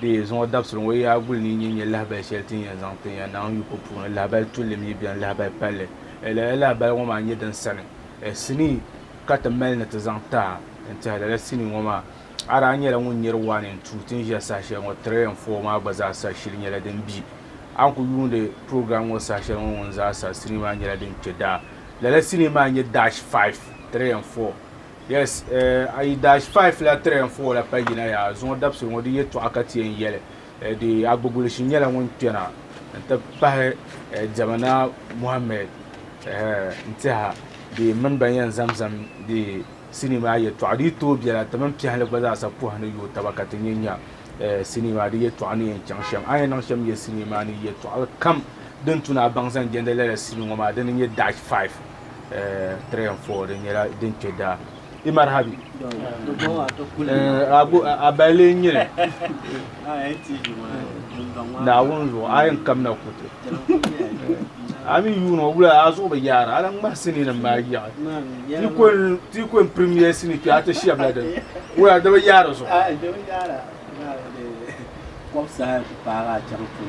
Bɛ zuŋɔ dabisili ŋɔ yaa guli ni yi nya lahabali shɛli ti ni yɛn zaŋ ti ya naŋ yu ko puuni, lahabal tulli mi beni, lahabal palli. Ɛɛ lala lahabali ŋɔ maa nyɛ din sani? Ɛɛ sinii ka ti mali ni ti zaŋ taha n-tɛhi lala sinii ŋɔ maa? A daa nyɛla ŋun nyari waa ni n-tuui ti ni ʒiya saha shɛli ŋɔ, tiri N fɔɔ maa gba zaa sa shili nyɛla din bi. A ni ku yuundi program ŋɔ saha shɛli ŋɔ ŋun zaa sa, sinii maa nyɛla din kpe daa. Lala sinii maa n-nyɛ Dash Five, tiri N fɔɔ. Yes, eh, a yi dash five la three and four la pa yina ya zuŋɔ dabsi ŋɔ di yɛtɔɣa ka ti yɛn yɛli eh, di agbigulishi nyɛla ŋun kpɛna n ti pahi eh, Diɛmana Muhammed eh, n tiha di mini ban yɛn zamzam di sinii maa yɛtɔɣa di yi tooi biɛla ti mini piɛhili gba zaa sa puhi ni yooi taba ka ti nyɛ nya eh, sinii maa di yɛtɔɣa ni yɛn chaŋ shɛm a yɛn niŋ shɛm yɛ sinii maa ni yɛtɔɣa kam din tuna a baŋ zaŋ jɛndi lala sinii ŋɔ maa di ni nyɛ dash five 3 and 4 din nyɛla din kpe daa i marhabi a balee n nyɛli naawuni zuɣu a yɛn kamina kuti a mi yuuni o wula a zuɣu bi yaara a lan ŋmahi sinii nim maa yaɣi ti ko n premier sinii kpɛ a ti shɛbi la din wula di bi yaari zuɣu Kom saha ti paagi a chaŋ pun.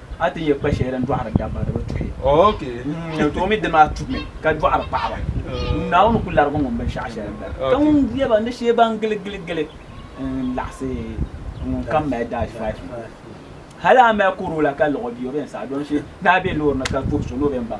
a ti yɛ kpa shɛli din dɔɣiri dabba di bi tuhi n toomi dini maa tumi ka dɔɣiri paɣaba naawuni ku larigi ŋun binshɛɣu shɛli bala ka ŋun yɛ ba ni shee ban gili gili gili n laɣisi ŋun kam mali dash five hali a mali koro la ka lɔɣi bia o bɛn saɣi don shi naa bɛ loori ni ka tuhi so ni o bɛn baŋ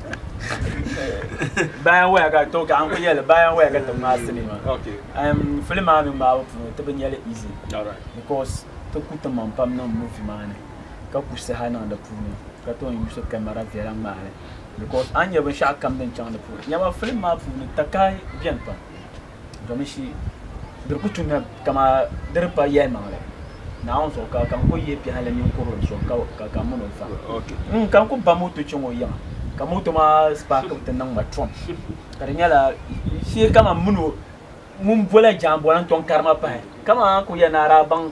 bayan waya ka to ka an kuli yɛli bayan waya ka ti ŋmaa sini ma okay um fili maa mi ŋmaabo puuni ti bi nyɛli easy all right because ti ku ti maŋ pam niŋ movie maa ni ka ku saha niŋ di puuni ka toon yuusi camera viɛla ŋmaai li because a ni nyɛ binshɛɣu kam din chaŋ di puuni nyɛma film maa puuni takahi bɛni pam domin shi diri ku tumya kama diri pa yɛli maŋli naawuni zuɣu ka ka n ku ye piɛhili mini kurili zuɣu ka ka ka mini o fa n ka n ku ba moto chaŋ o yiŋa ka moto maa spaaki ti niŋ ma trom ka di nyɛla shee kama mini o ŋun bola jaanbɔla n tɔŋ karima pahi kama ku yɛ naara baŋ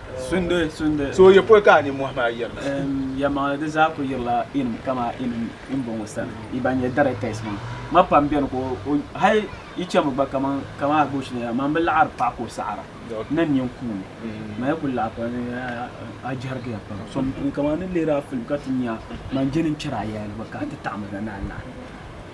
Sundi, sundi. So ya pol ka a ninmɔhi maa yirina? Ɛɛm, yɛlimaŋli di zaa ku yirila inim kamaa inim imbɔŋɔ sani, yi ban nyɛ directors maa. Ma pam beni ka o, hal yi chɛmi gba kaman, kaman Agbosh ni ya, man bi laɣiri paɣa ka o saɣira ni n nyin kuuni. Man ya kul laɣi pam ni a jɛrigiya pam. So mi kuni kaman n ni lihiri a film ka ti nya a, man jɛli n chɛri a yayili gba ka a ti taɣim n na ni a laɣi.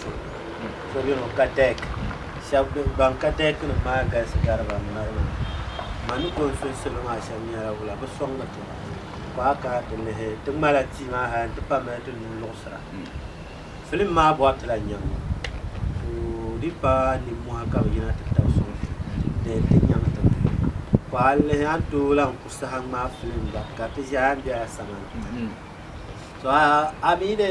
so beni kadek shɛbi ban kadek nim maa galisi gari ban mali maa ma ni kon so salo maa shɛbi nyɛla wula bi soŋ bi ti ko a kana ti lihi ti ŋmala tii maa hali n ti pa mali ti nuu luɣisira filim maa bɔri ti la nyaŋ ŋɔ so di pa nimmohi ka bi yina ti tabi soŋ so di ti nyaŋ ti mi ko a lihi a ni tooi lan ku saha ŋmaa filim gba ka ti ʒɛya n bɛ a samani so a mi de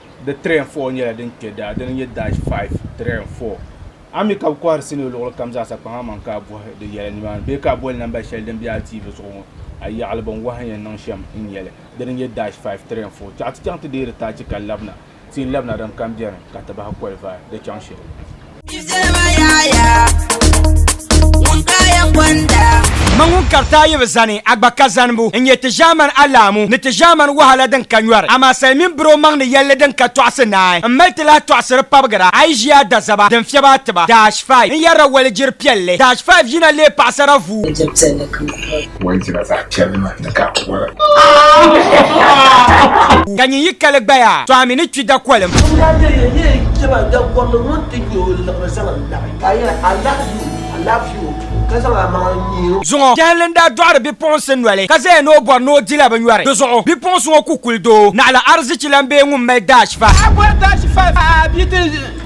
di tiri and four nyɛla din kpɛ daa dini nyɛ dash five tiri and four a mi ka bi kɔhiri sinii luɣuli kam zaa sa kpaŋ a maŋ ka a bɔhi di yɛla ni maani bee ka a boli namba shɛli din bɛ a TV zuɣu ŋɔ a yaɣili bin wahi yɛn niŋ shɛm n nyɛli dini nyɛ dash five tiri and four chaɣa ti chaŋ ti deeri taachi ka labina ti yi labina din kam bɛni ka ti bahi kɔlivaai di chaŋ shɛli. Ma ŋun kari taayibu zani a gba ka zanibu n nyɛ ti ʒɛman alahamu ni ti ʒɛman wahala din ka nyɔri amaa salimiin biri o maŋ ni yɛlli din ka tɔɣisi naai m mali ti lahi tɔɣisiri pabigira a yi ʒi a dazaba din fiɛbi a tiba Dash 5 n yɛrila walijiri piɛlli Dash 5 yina leei paɣisara vuubu. Walizina zaɣ piɛlima ni ka a wala. Ka nyin yi kali gbaya, to a mi ni kpi dakolim. Ŋun daa ti yɛn nyɛ jɛma dagɔrili ŋun ti nya o liɣiri zaŋ n labi, ka a yɛli, Alahizi o! Alaafee o! ka zaŋ a maŋa n-nyihi o. Zuŋɔ, jɛhili n daa dɔɣiri bipuɣinsi noli, ka zaya ni o bɔri ni o dila bi nyɔri. Di zuɣu, bipuɣinsi ŋɔ ku kuli doo, naɣila arizichi lan bee ŋun mali daashifa. Ka a bɔri daashifa a bia ti.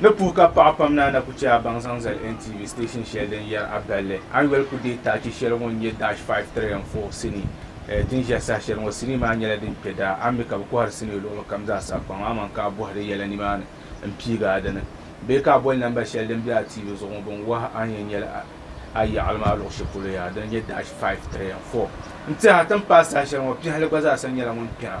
Ni puhi ka paɣa pam naa na ku chɛ a baŋ zaŋ zali NTV station shɛli din yɛri a balli Annuel ku deei tachi shɛli ŋɔ n-nyɛ Dash Five, Three and Four sinii din ʒiɛhi saha shɛli ŋɔ. Sinii maa nyɛla din kpe daa. A ni mi ka bɛ kɔhiri sinii luɣili kam zaa saha kpaŋa aman ka a bɔhi di yɛla nimaani m-piigi a dini bee ka a boli namba shɛli din be a TV zuɣu ŋɔ bɛ ni wahi a ni yɛn nyɛli a yaɣili maa luɣ shɛli polo yaha din nyɛ Dash Five, Three and Four n-tihi a ti ni paai saha shɛli ŋɔ. Piɛhili gba zaa sa nyɛla ŋun kpɛra.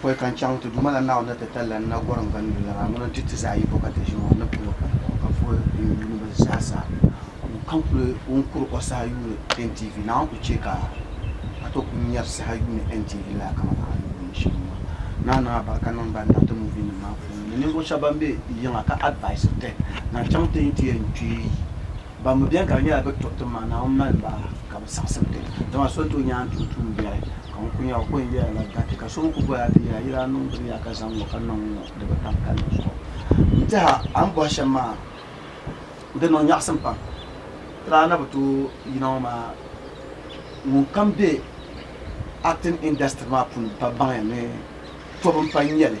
Pɔi ka n chaŋ ti Duuma la Naawuni ni ti talila n na gɔrim gandoli la maa. Ŋuna n-ti ti zaa yi bɔkati ʒini o ni pili o pali o ka vuhi n yuuniba zaa sa. N ka n-kuli wum kuri o saha yuuni NTV. Naawuni ku chɛ ka a tooi kuli nyari saha yuuni NTV lala kamani a ni yuuni shɛm maa. Naa niŋ a barika niŋ ban niŋ ti muvinim maa puuni ni ninvuɣ shɛba ban be yiŋa ka advaisiri ti. Naa chaŋ ti yi ti yɛn kpee. Ban mi beni ka di nyɛla bɛ tuɣi tim maa, Naawuni mali ba ka bɛ saɣisim ti. Dama so n-tooi nyaŋ tuun tuun biɛri, ka ŋun ku nya o kɔin yɛla la gariti, ka so mi ku bɔya ti yɛla, Yila a nuhi gbibi ya ka zaŋ ŋ-ŋɔ ka niŋ ŋ-ŋɔ di bi tam palli zuɣu. M biɛha, a ni bɔhi shɛm maa, di niŋ nyaɣisim pam. Tira a na bi tooi yina ŋɔ maa, ŋunkam be acting industry maa puuni pa baŋya ni tɔbu m-pa n-nyɛ li.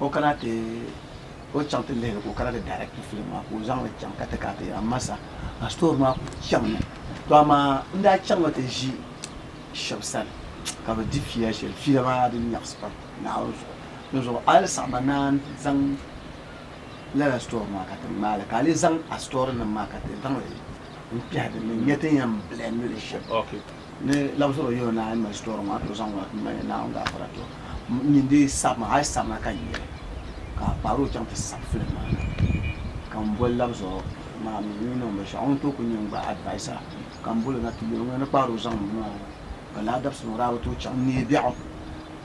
O kana ti o chaŋ ti lihiri ka o kana ti direct film maa ka o zaŋ li chaŋ ka ti kana ti yɛra masa a story maa ku chaŋ mi to amaa n daa chaŋ mi ti ʒi shɛba sani ka bi di fiila shɛli fiila maa di nyaɣisi pam Naawuni zuɣu di zuɣu a yi saɣi ma ni a zaŋ lala story maa ka ti ŋmaai li ka a lee zaŋ a story nim maa ka ti zaŋ li n kpɛhi din ni n nya ti ni yɛn blend li shɛm. ni labisiri yuli Naawuni mini sitɔri ŋɔ ato zaŋ ŋɔ m-mali ya Naawuni gaafara tɔ m mi n-dii sabi ma hali sabina ka n yɛli ka a kpaari o chaŋ ti sabi filim maa na ka m boli labisiri maa mi n-yi niŋ binshɛɣu o ni tooi kuli nyɛ gba advaisa ka m boli o na ti yɛli o ŋuna ni kpaari o zaŋ m mi maa na ka lala dabisili ŋɔ daa bi tooi chaŋ n-neei biɛɣu.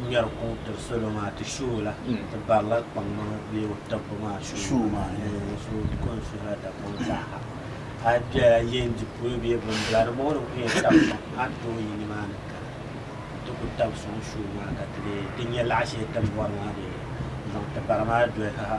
ŋmɛri kuŋ tiri salo maa ti shi o la ti barila kpaŋmaŋ bee o tibbu maa shi o maa so ko n suhila Dagbaŋ zaaha a bɛla yɛn di polo bee bimbila di mɔɣu ni ku yɛn tabi sɔŋ a ni tooi yi nimaani kana n ti ku tabi sɔŋ shi o maa ka ti leei ti nya laɣa shɛli ti ni bɔri maa dee n zaŋ ti bara maa doli ha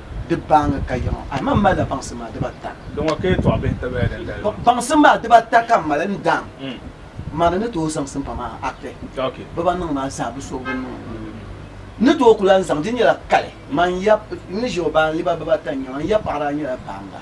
di baaŋa ka yiŋa. Ahiman m-mali la baŋsim maa diba ata. Di ŋɔ ka yɛtɔɣ bihi n-ti baya din dali maa. Baŋsim maa diba ata ka m mali n daam ma ni ni tooi zaŋ simpa maa akpe biba niŋ maa zaa bi suhigu n-niŋ o nuu ni. N ni tooi ku lan zaŋ di nyɛla kali. Man yab n ni ʒe o baaŋliba biba ata n-nyɛ ma. N yab paɣa daa nyɛla baaŋa.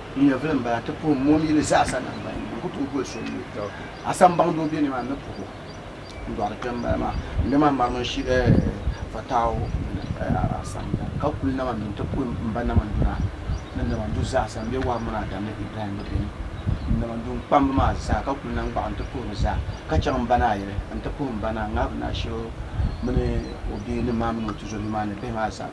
N nyɛvili m-bala nti puhi mom yili zaasa naŋgban yini. N ku tooi boli so n-mi o. A sambaŋ doo be ni maa, n ni puhi o. N dɔɣiri kpe m-bala maa. N mi maa ŋmarimi n-shi Fatau mini a samda, ka kuli nam a mi nti puhi m ba Namanduna ni Namandu zaasa. M be Wahab mini Adam ni Ibrahim bi beni. N Namandu n kpam bi maa zaa, ka kuli nam gbaɣi nti puhi bi zaa, ka chaŋ m ba naa yili nti puhi m ba naa Ŋahibu Naasheo mini o bia ni maa mini o tizɔbia maa ni bihi maa zaa.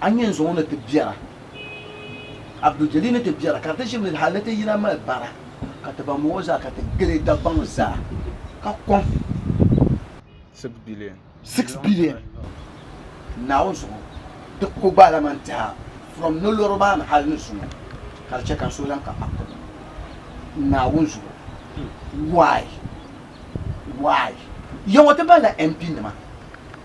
A ni yɛn zaŋ o ni ti biɛra, Abdul Jalil ni ti biɛra, ka di ti ʒim lili hal ni ti yina mali bara ka ti ba mɔŋ o zaa ka ti gili Dagbaŋ zaa ka kɔŋ six billion Naawuni zuɣu ti ko gbaalaman tɛha from nolɔri maa ni hal ni zuŋɔ ka di chɛ ka n so lan ka Akko Naawuni zuɣu. Why? Why? Yaŋɔ ti malila MP nima.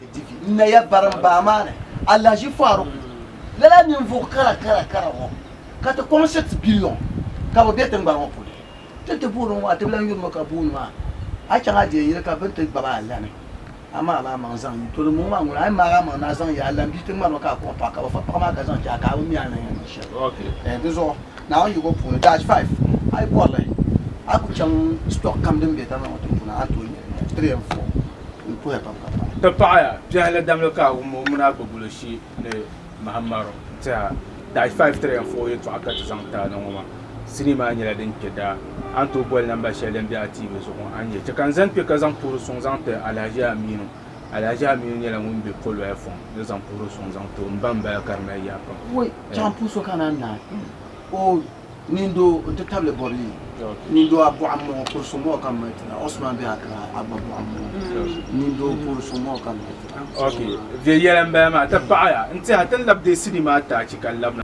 Divi, n naya bari n baa maa ni Alhaji Faruk lala ninvuɣ kara kara kara ŋɔ ka ti kɔŋ six billion ka bɛ be tiŋgbani ŋɔ puuni. Ti ti booni ŋɔ a ti bi lan yuri ma ka booni maa a chaŋ a deei yili ka bɛ ni ti gbab a alani a maag la amaŋ zaŋ yi to di mɔŋ maa ŋuna a yi maag amaŋ ni a zaŋ yi alan bia tiŋgbani ŋɔ ka a kɔŋ paɣa ka bɛ fa paɣa maa ka zaŋ chahi ka a bi mi a ni yɛn niŋ shɛli. Dinzuɣu Naawuni yiɣibu puuni dash five a yi bɔri li a ku chaŋ stock kam din be tiŋgbani ŋɔ tiŋ puuni a ni tooi nya li three and four. Ti paɣiya biɛhi ni damli ka a wum o mini a gbibulo shee ni mahim maro n-tɛha. Dash five tiri ya foo yɛtɔɣa ka ti zaŋ ti a na ŋɔ maa. Sinii maa nyɛla din kpe daa. A ni tooi boli namba shɛli din be a tiivi zuɣu ŋɔ, a ni yɛli, Chɛ ka n zani kpe ka zaŋ puhiri suŋ zaŋ ti Alahaji Aminu. Alahaji Aminu nyɛla ŋun be Poloya Fɔŋ ni zaŋ puhiri suŋ zaŋ ti o. M ba m-bala ka di mali yaa pam. Nindoo n ti tabili bɔbili nindoo a bɔɣa mɔɣu kuri so mɔɣu ka mali tira Osman bɛ Accra a gba bɔɣa mɔɣu nindoo kuri so mɔɣu ka mali tira. Ok vɛ yɛla n bala maa ti paɣaya n tiha ti lab dee sidi maa ti achi ka labina.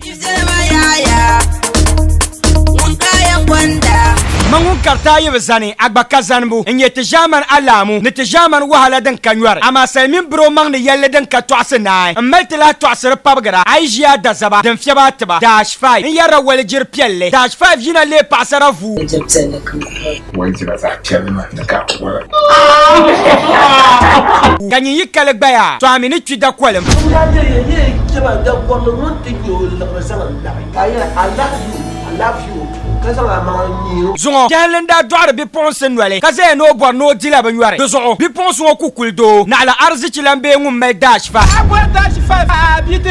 Ma ŋun kariti a yi bi zani, a gba ka zanibu. N nyɛ ti ʒiɛmani alahamu ni ti ʒiɛmani wahala din ka nyɔri. Amaa sali mini biri o maŋ ni yɛlli din ka tɔɣisi naai. M mali ti lahi tɔɣisiri pabigira a yi ʒiya a dazaba din fiɛbi a tiba. Dash. 5 n yɛrila walijiri piɛlli. Dash 5 yina leei paɣasara vuu. Walijiri piɛlli ka n kuli. Walijira zaɣ piɛlli maa ni ka a kuli. Ka nyin yi kali gbaya tɔha mi ni kpi dakolim. N daa nya ya ni yi chɛ ma dakolim ŋun ti nya o liɣiri zaŋ n laɣi. Ka a yɛli, Alahi yu, alaafee yu, ka zaŋ a maŋa n-nyi o. Zuŋɔ, Kɛhili n daa dɔɣiri bipuɣinsi noli ka zaya ni o bɔri ni o dila bi nyɔri. Di zuɣu, bipuɣinsi ŋɔ ku kuli doo, naɣila arizichi lan bee ŋun mali Dash 5. Ka a bɔri Dash 5 ka a bi ti.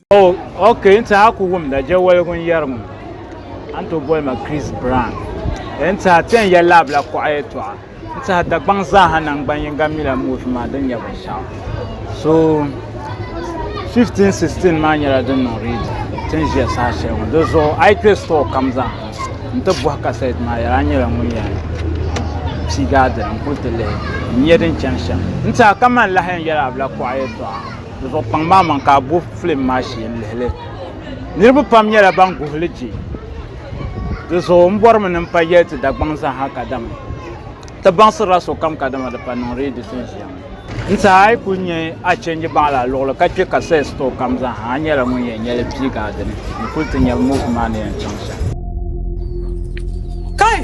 Oh, ok, n tiɛha ku wumda je woligu n yɛri ŋɔ. A ni tooi boli ma Chris Brown. E n tiɛha ti yɛn yɛli la abila kuɣa yɛtɔɣa. N tiɛha Dagbaŋ zaaha naŋgban yiŋga mi la movie maa din nyɛ binshɛɣu. So 1516 maa nyɛla din niŋ read ti ni ʒiya saha shɛli ŋɔ. Di zuɣu a yi kpe store kam zaa n ti bɔhi kasɛt maa yɛla a nyɛla ŋun yɛn piigi a dini n kuli ti lihi n nya din chani shɛm. N tiɛha kamani lahi yɛn yɛli abila kuɣa yɛtɔɣa. Di zuɣu kpaŋ maa maŋ ka a bo filim maa shee n-lihi li. Niriba pam nyɛla ban guhi li che. Di zuɣu m bɔrimi ni m pa yɛli ti Dagbaŋ zaaha kadama ti baŋsirila sokam kadama di pa niŋ reedi tin ʒiya ŋɔ. N saha a yi kuli nya a change baŋ la a luɣili ka kpe ka sales store kam zaaha a nyɛla ŋun yɛn nya li piigi a dini n kuli ti nya move maa ni yɛn chaŋ shɛm. Kai!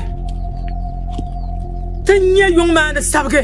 Ti nya yuŋ maa ni sabigi.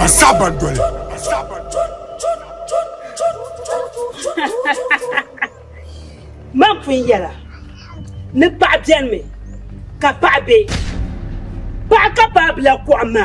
a saba doli man pun yɛla ni paɣa biɛni mi ka paɣa be paɣa ka paɣa bila kuɣa ma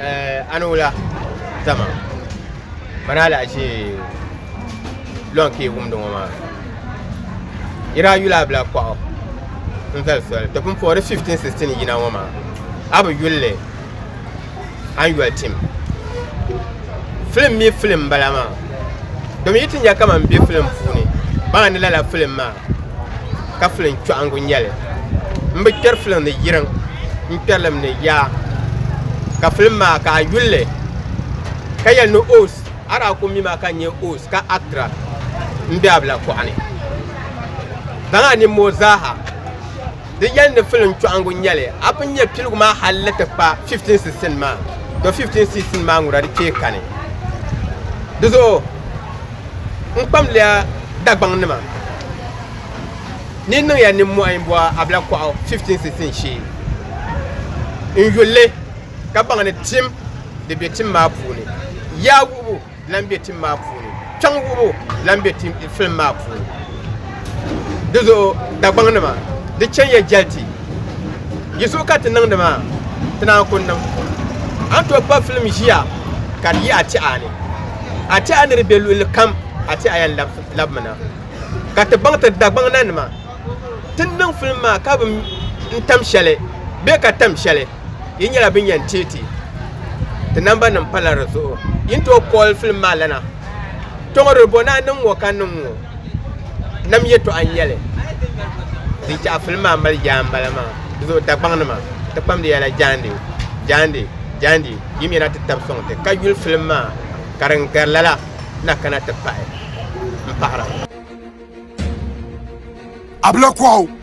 Eh, a ni wula dama mani alahichi lɔn ka yi wumdi ŋɔ maa yi daa yuli abila kɔɣu n zali soli ti pun puhiri 1516 yina ŋɔ maa a bi yulli a ni yoli tim filim mi filim bala maa domi yi ti nya kaman be filim puuni baŋa ni lala filim maa ka filiŋ chɔɣiŋgu nyɛli. M bi kpɛri filiŋ ni yiriŋ, n kpɛri li mi ni yaa. Ka filiŋ maa ka a yuli li ka yɛli ni Oos, a daa ku mi ma ka n nyɛ Oos ka Actra m-be a bila kɔɣu ni. Zaŋ a nimmoo zaa ha. Di yɛli ni filim chɔɣiŋgu n-nyɛli, a pun nya piligu maa hal ni ti kpa 15 sisin maa, tɔ 15 sisin maa ŋuna di kpee kani. Di zuɣu n kpamliya Dagbaŋnima ni niŋ ya nimmɔhi m-bɔ Abla Kɔɣu 15 sisin shee n yuli li ka baŋ ni tim di be tim maa puuni. Yaa wuhibu! Lan be tim maa puuni. Chaŋ wuhib o lan be tim film maa puuni. Di zuɣu Dagbaŋ nima di chani ya jɛli ti. Yi zuɣu ka ti niŋdi maa ti naan ku niŋ. A ni tooi kpa film ʒiya ka di yi a tɛha ni. A tɛha ni di be luɣili kam a tɛha yan labi mi na. Ka ti baŋ ti Dagbaŋ na nima ti ni niŋ film maa ka bi n tam shɛli bee ka tam shɛli. yi nyɛla bin yɛn teei ti ti namba nim pala di zuɣu yi ni tooi kɔɔli filim maa lana tɔŋɔ di bo naa niŋ ŋɔ ka niŋ ŋɔ nam yɛtɔɣa n yɛli di chaɣa filim maa mali yaa n bala maa di zuɣu Dagbaŋ nima ti kpamdi yɛla jaandi jaandi jaandi yi mi na ti tabi sɔŋ ti ka yuli filim maa ka din gari lala na kana ti pahi n pahira. Abla Kwaw.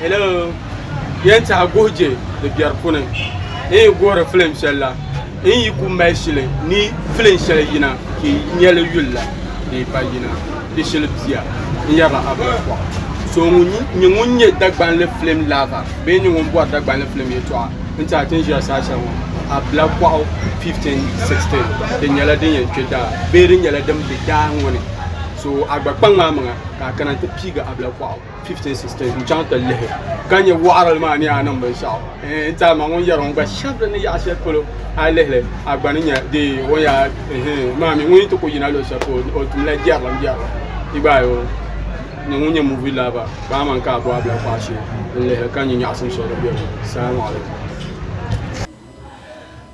Hello Yen tiɛhi guhi je di biɛri puni n yi guhiri filim shɛli la n yi ku mali shili ni filin shɛli yina ka yi nyɛli yuli la di yi pa yina di shili bia n yɛrila Abdul Pɔɣu so ŋun nyɛ ŋun nyɛ Dagbanli filim lava bee nyɛ ŋun bɔri Dagbanli filim yɛtɔɣa n tiɛhi ti ni ʒiya saha shɛli ŋɔ Abla Pɔɣu 1516 di nyɛla din yɛn kpe daa bee di nyɛla din be daa ŋɔ ni so a gba kpaŋ maa maŋa ka a kana n ti piigi Abla Pɔɣu. 15 sisters n chaŋ ti lihi ka nyɛ waɣarili maa ni a niŋ binshaɣu n tiɛhi ma ŋun yɛri ŋun gba shɛbi ni yaɣa shɛli polo a lihili a gba ni nyɛ di o yaa maa mi ŋun ti ku yina luɣu shɛli polo o tumla jɛrilim jɛrilim i gba ayo ni ŋun nyɛ muvi laba ka a man ka a bɔhabila kɔɣa shee n lihili ka nyɛ nyaɣasim shɛli din bɛ di salamu alaikum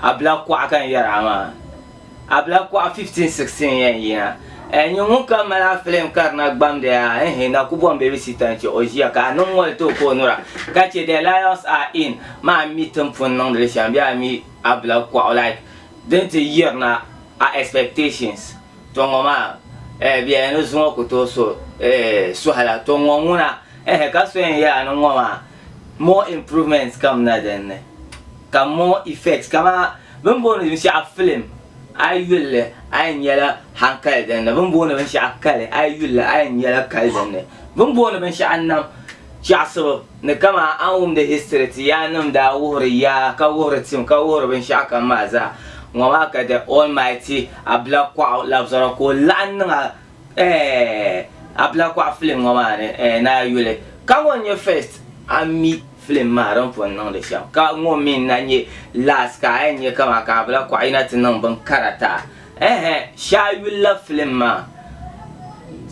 Abila kuɣa ka n yɛri a maa. Abila kuɣa 15, 16 yɛn yina. Ɛɛ, nyini ŋun kam mali a filim ka di na gbamdi a, ɛɛhe, na ku bom Baby Sita n-chɛ o ʒiya ka a niŋ moli ti o ka o nura, ka chɛ The Lions Are In maa a ni mi tin pun niŋdi li shɛm bee a mi Abila kuɣa like din ti yirina a expectations. To ŋɔ maa, ɛɛ, bɛ yɛli ni zuŋɔ ku tooi so, ɛɛh, suhila. To ŋɔ ŋuna, ɛɛhe, ka so yɛn yɛli a ni ŋɔ maa, More improvements kam na din ni ka more effects kamaa bini booni binshɛɣu film a yi yulli a yɛn nyɛla hankali din ni bini booni binshɛɣu kali a yi yulli a yɛn nyɛla kali din ni bini booni binshɛɣu nam chaɣisibu ni kamaa a ni wumdi history ti yaa nim daa wuhiri yaa ka wuhiri tim ka wuhiri binshɛɣu kam maa zaa ŋɔ maa ka the almighty Abilakɔɣu labisɔra ka o laɣim niŋ a Eh abla kɔɣu film ŋɔ maa ni eh naa yuli ka ŋɔ n nyɛ first a mi film maa din pun niŋdi shɛm ka ŋɔ mi n na nyɛ last ka a yɛn nyɛ kaman ka abla kɔɣu yina ti niŋ bin kara taa ehe shɛ a yuli la film maa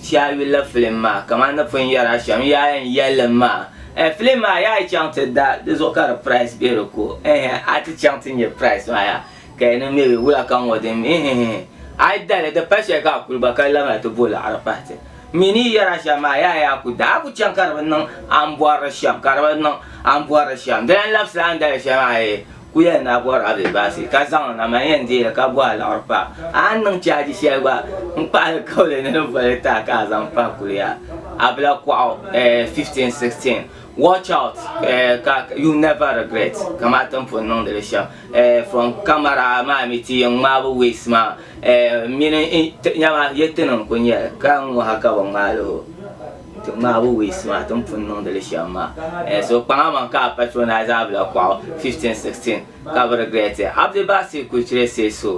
shɛ a yuli la film maa kaman ni pun yɛri a shɛm yaa yɛn yɛlli maa eh film maa yaa yi chaŋ ti da di zuɣu ka di price be di ko ehe a ti chaŋ ti nyɛ price maa yaa. Ka yi niŋ mi bɛ wula ka ŋɔ din mi hihi. A yi dali, di pa shɛli ka a kuli gba ka labina ti bo liɣiri pahi ti. M mi ni yi yɛri a shɛm maa, yaa yaa ku daa ku chaŋ ka di bi niŋ a ni bɔrili shɛm, ka di bi niŋ a ni bɔrili shɛm. Dina n-labisila a ni dali shɛli maa hee. Ku yɛli ni a bɔri a bee baasi, ka zaŋ li na, man yɛn deei li ka bo a liɣiri pahi. A ni niŋ chaaji shɛli gba, n kpahi li kauli ni di boli taai ka a zaŋ pahi kuliya. A bila kɔɣu, eh, 15, 16. Watch out, eh, ka, you never regret, kamati n pun niŋdi li shɛm. Eh, from camera maa mi ti yen ŋmaabu waist maa eh, mini eh, nyama ye ti niŋ ku nyɛli ka n ŋɔ ha ka bi ŋmaali ho ti ŋmaabu waist maa ti ni pun niŋdili shɛm maa eh, so kpaŋ a maŋ ka a patronize a bila kɔɣu 15 16 ka bi regret it Abdibasir Kucire say so.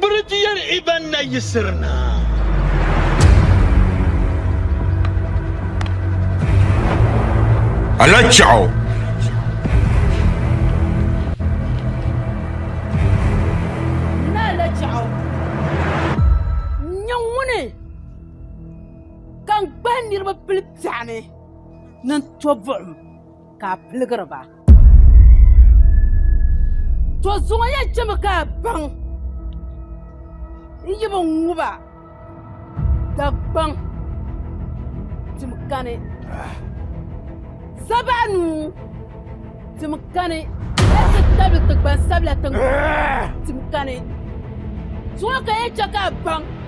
Birigiyɛr Iban na yiɣisiri na. Ala chɛɣu. N ala chɛɣu. N nyɛ ŋuni ka n gbahi niriba pili biɛɣuni ni n to buɣim ka a piligiri ba. to zuŋɔ ya chɛmi ka a baŋ n yi bi ŋuba dagbaŋ tim kani zabaɣa nuu tim kani ka ti tabili ti gbansabila tiŋ tim kani zuŋɔ ka ya chɛ ka a baŋ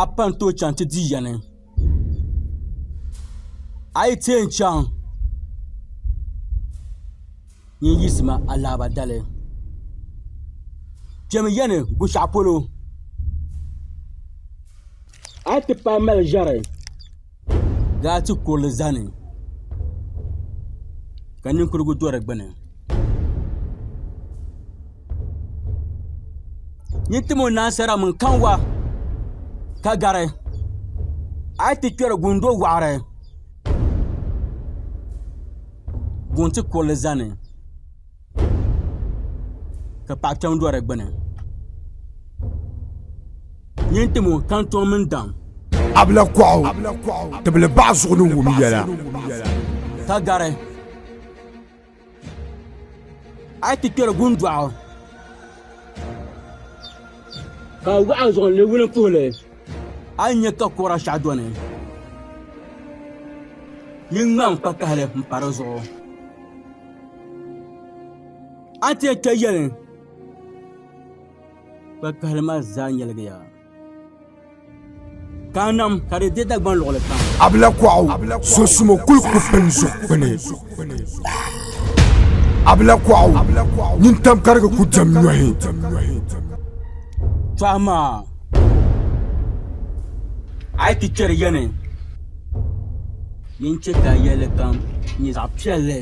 a pa n tooi chaŋ ti di yɛni a yi tee n chaŋ n yiɣisi ma alaaba dali kpɛmi yɛni Gbushɛɣu polo a ni ti paai mali ʒɛri laati kurili ʒɛ ni ka ninkurigu do di gbuni n ni tim o ni ansarila maa kanwa ka gari a yi ti kpɛri guŋ n do waɣari guŋ ti kurili ʒɛ ni ka paɣa kpɛm do di gbuni nyin tiɛ moo ka n tom mini daɣam Abla kɔɣu tibili baɣa zuɣu ni wum yɛla ka gari a yi ti kpɛri gundɔɣu ka waɣa zuɣu ni wuli puhili a yi nyɛ ka kora shɛhi do ni ni ŋmaŋ kpakahali n pa di zuɣu a ti yɛn kpɛ yɛli kpakpahali maa zaa nyɛligiya ka a nam ka di deei Dagbaŋ luɣuli kam a bi la kɔɣu sunsumo kuli ku pini zuɣukpuni a bi la kɔɣu nyin tam karigi ku dam nyɔhi tɔha maa a yi ti kpɛri yɛni Yin chɛ ka yɛli kam nyɛ zaɣ piɛlli.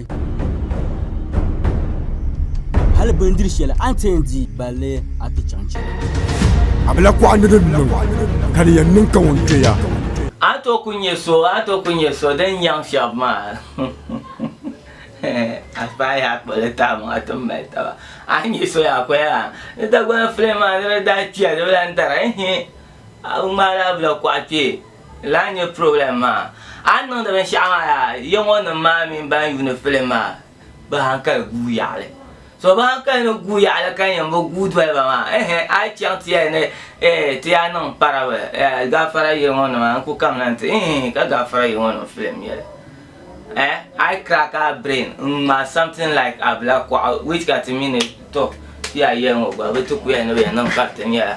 Hali bindiri shɛli a ni ti yɛn di balli a ti chaŋ chɛ. A bi lahi kɔɣi ni di niŋ, ka di yɛn niŋ ka ŋun kpɛ ya. A ni tooi ku nyɛ so, a ni tooi ku nyɛ so din nyaŋ shɛba maa. A paai yaa kpuɣi li taai maŋa ti ni mali taba. A ni nyɛ so yaa a kuhi yaa ni Dagbani filiŋ maa ni di daa kpiya di bi lahi dara ehe a ŋmaai daa bi lahi kɔɣi kpɛ. Lahi nyɛ program maa. A ni niŋdi binshɛɣu maa yaa, ya ŋɔ nim maa mini ban yuuni film maa, bɛ hankali guui yaɣili. So bɛ hankali ni guui yaɣili ka nyɛ m-bi guui doli ba maa, ehe, a yi chaŋ ti yɛli ni, eh, ti yaa niŋ parable, eh, gaafara yili ŋɔ nima, n ku kamina nti, eeh, ka gaafara yili ŋɔ nim film yɛli. Eh, a yi crack a brain n-ŋmaai something like Abila Kuɣu, which ka ti mi ni, toh, ti yaa yɛli ŋɔ gba, bɛ ti ku yɛli ni bɛ yɛn niŋ kariti nyɛla.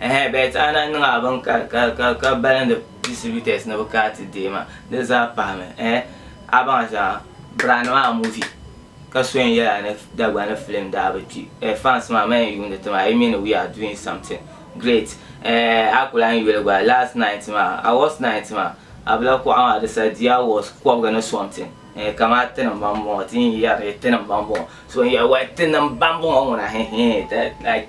Ɛhɛɛn, Bɛt Aana niŋ a bini ka, ka, ka, ka balindi distributors ni bɛ ka ti deei ma. Di zaa pahimi. Ɛhɛ, a baŋ shɛŋa, Brand maa movie ka so yɛn yɛla ni Dagbani film daa bi kpi. Ɛh, fans maa, ma yɛn yuundi ti maa, yi mi ni we are doing something great. Ɛh, a ku lahi yuli gba, last night maa, awards night maa, a bi lahi kuɣa maa, di sa di awards kɔbiga ni something. Ɛh, kamani tinim ba m-bɔŋɔ, ti yi yɛri ni tinim ba m-bɔŋɔ. So n-yɛli, Well, tinim ba m-bɔŋɔ ŋuna, hɛhɛɛn, that, like.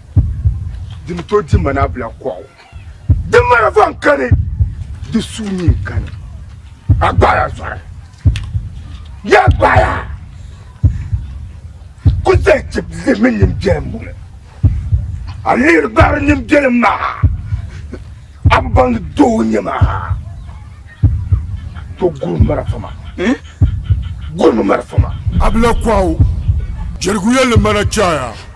di ni to di mana bila kɔɣu di mara van kani di suu ni kani a gbaya zɔri ya gbaya ku zali ti li mini nim biɛlim muli a lihiri gbari nim biɛlim maa a bi baŋ doo nyɛ maa to guri mara fama hmm? guri mara fama a bila kɔɣu jɛriguya li mana chaya